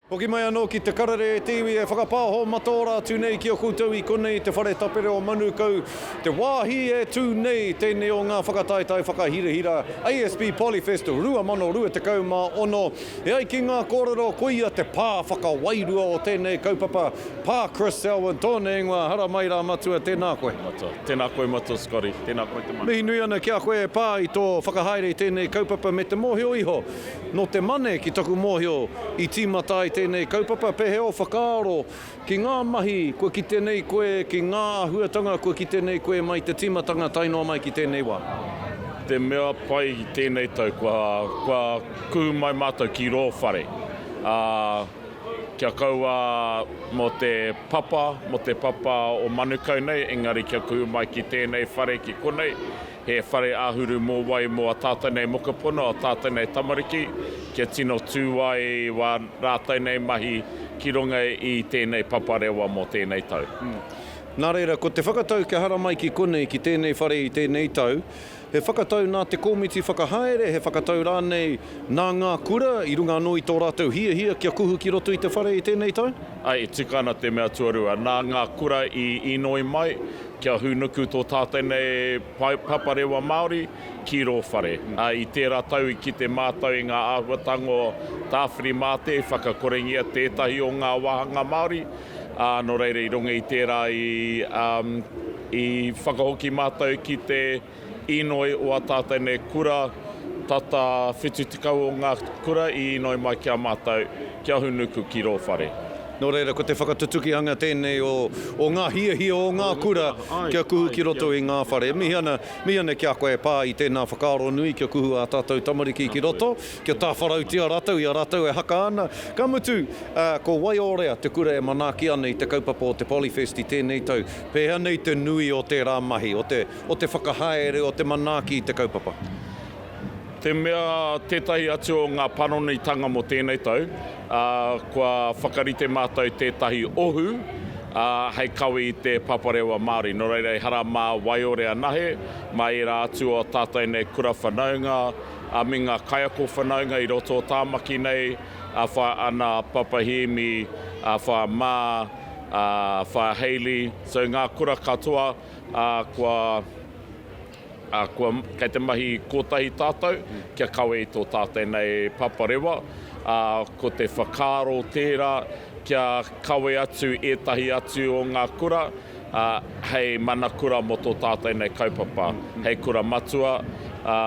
Hoki mai anō ki te karere e te iwi e whakapāho mataora atu nei ki a koutou i konei te whare tapere o Manukau, te wāhi e tū nei tēnei o ngā whakataetae whakahirahira ASB Polyfest 2026. E ai ki ngā kōrero koia te pā whakawairua o tēnei kaupapa, Pā Chris Selwyn tōna ingoa, haramai rā matua, tēnā koe. Matua. Tēnā koe matua Scotty, tēnā koe te mana. Mihi nui ana ki a koe e pā i tō whakahaere i tēnei kaupapa me te mōhio iho Nō te Mane, ki taku mōhio, i tīmata ai tēnei kaupapa, pēhea ō whakaaro ki ngā mahi kua kite nei koe, ki ngā āhuatanga kua kite nei koe mai te tīmatanga tae noa mai ki tēnei wā? Te mea pai i tēnei tau, kua kuhu mai mātou ki rō whare, ā, kia kaua mō te papa, mō te papa o Manukau nei, engari kia kuhu mai ki tēnei whare, ki konei, He whare āhuru mōwai mō ā tātou nei mokopuna, ā tātou nei tamariki, kia tino tū ai wā rātou nei mahi ki runga i tēnei paparewa mō tēnei tau. Nā reira, ko te whakatau kia haramai ki konei, ki tēnei whare i tēnei tau, he whakatau nā te kōmiti whakahaere, he whakatau rānei nā ngā kura i runga anō i tō rātou hiahia kia kuhu ki roto i te whare i tēnei tau? Āe, e tika ana te mea tuarua. Nā ngā kura i inoi mai, Kia hūnuku tō tātou nei paparewa Māori ki rō whare. I tērā tau i kite mātou i ngā āhuatanga o Tāwhiri mā te i whakakorengia tētahi o ngā wāhanga Māori, ā, nō reira i runga i tērā i whakahoki mātou ki te. Inoi o a tātou nei kura, tata 70 o ngā kura i inoi mai ki a mātou, ki a Hunuku ki rō whare. Nō reira, ko te whakatutukihanga tēnei o ngā hiahia o ngā kura kia kuhu ki roto i ngā whare. E mihi ana, mihi ana ki a koe e pā i tēnā whakaaro nui kia kuhu ā tātou tamariki ki roto, kia tāwharautia rātou i a rātou e haka ana. Ka mutu, ko Waiōrea te kura e manaaki ana i te kaupapa o te Polyfest i tēnei tau. Pēhea nei te nui o tērā mahi, o te. o te whakahaere o te manaaki i te kaupapa. Te mea tētahi atu o ngā panonitanga mō tēnei tau, ā, kua whakarite mātou tētahi ohu, ā, hei kawe i te paparewa Māori. Nō reira, ehara mā waiore anahe, mā ērā atu o ā tātou nei kura whanaunga, ā, me ngā kaiako whanaunga i roto o Tāmaki nei, ā, Whaea Ana, Papa Hēmi, ā, Whaea Mā, ā, Whaea Hayley, so ngā kura katoa, ā, kua, ā, kua, kei te mahi kōtahi tātou kia kawe i tō tātou nei paparewa, ā, ko te whakaaro tērā kia kawe atu ētahi atu o ngā kura, ā, hei mana kura mō tō tātou nei kaupapa, hei kura matua, ā,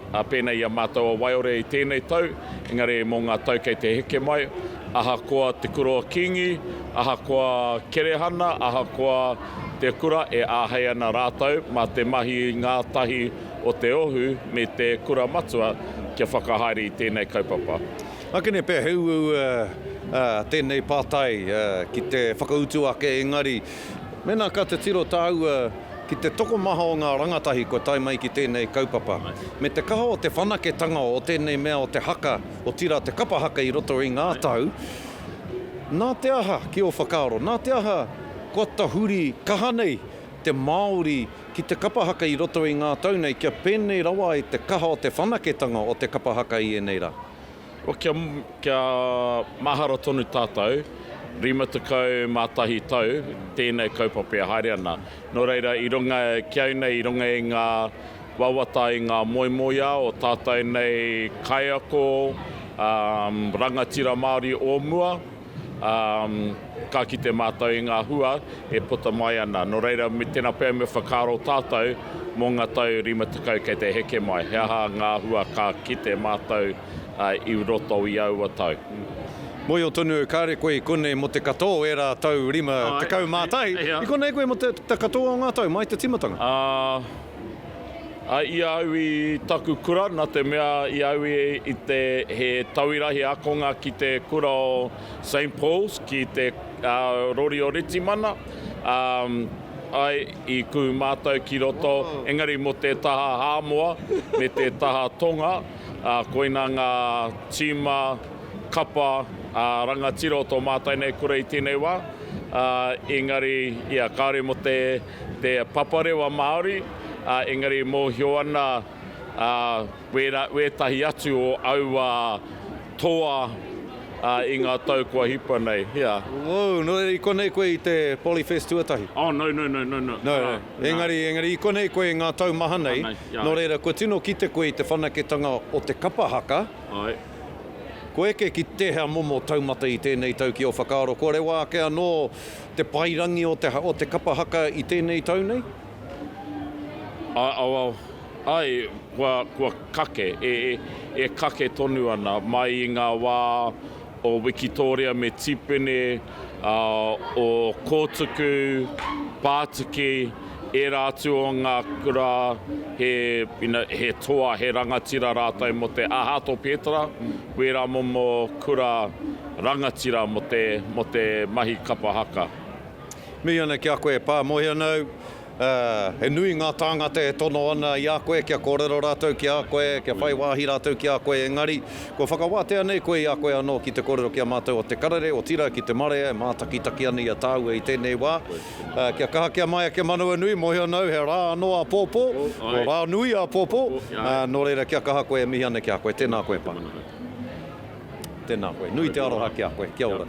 Ā, pēnei i a mātou o Waiore i tēnei tau, engari mō ngā tau kei te heke mai, ahakoa Te Kura o Kīngi, ahakoa Kerehana, ahakoa Te Kura, e āhei ana rātou mā te mahi ngātahi o te Ohu me te Kura Matua kia whakahaere i tēnei kaupapa. Akene pea he uaua tēnei pātai ki te whakautu ake, engari Mēnā ka titiro tāua ki te tokomaha o ngā rangatahi kua tae mai ki tēnei kaupapa, me te kaha o te whanaketanga o tēnei mea o te haka, otirā te kapa haka i roto i ngā tau, nā te aha, ki ō whakaaro, nā te aha kua tahuri kaha nei te Māori ki te kapa haka i roto i ngā tau nei kia pēnei rawa ai te kaha o te whanaketanga o te kapa haka i ēnei rā? Kia, kia mahara tonu tātou, 51 tau tēnei kaupapa e haere ana. Nō reira, i runga ki au nei, i runga i ngā wawata, i ngā moemoeā o tātou nei kaiako, um, rangatira Māori o mua, Ka kite mātou i ngā hua e puta mai ana. Nō reira, tēnā pea me whakaaro tātou mō ngā tau 50 kei te heke mai, he aha ngā hua ka kite mātou i roto i aua tau. Mōhio tonu, kāre koe i konei mō te katoa o ērā tau 51. I konei koe mō te katoa o ngā tau, mai te tīmatanga. I a au i taku kura, na te mea i a au i te he tauira, he akonga ki te kura o Saint Paul's ki te rori o Ritimana, ae, i ku matou ki roto, engari mo te taha Hamoa me te taha Tonga, koina nga tima, kapa, rangatira o to matou nei kura i tenei wa, engari ia kaore mo te te paparewa Māori, engari mōhio ana wētahi atu o aua toa i ngā tau kua hipa nei. Woo, nō reira i konei koe i te Polyfest tuatahi? Oh no, no, no, no, no. No, engari, engari i konei koe i ngā tau maha nei, nō reira kua tino kite koe i te whanaketanga o te kapa haka, kua eke ki tēhea momo taumata i tēnei tau ki ō whakaaro, kua rewa ake anō, Te paerangi o te o te kapa haka i tēnei tau nei? Ae, well, ae, kua, kua kake, e, e kake tonu ana, mai i ngā wā o Wikitoria me Tipene, ā, o Kōtuku, Pātiki, ērā atu o ngā kura, he, you know, he toa, he rangatira rātou mō te, ā, Hato Pētara, Wēra momo kura rangatira mō te, mō te mahi kapa haka. Mihi ana ki a koe e Pā, moe ana au. He nui ngā tāngata e tono ana i a koe, kia kōrero rātou ki a koe, kia whai wāhi rātou ki a koe, engari, kua whakawātea nei koe i a koe anō ki te kōrero ki a mātou o te karere, otirā ki te marea e mātakitaki ana i a tāua i tēnei wā. Kia kaha, kia maea, kia manawanui, mōhio ana au he rā anō āpōpō, ko rā nui āpōpō, nō reira kia kaha koe e mihi ana ki a koe. Tēnā koe, Pākehā. Tēnā koe. Nui te aroha ki a koe. Kia ora.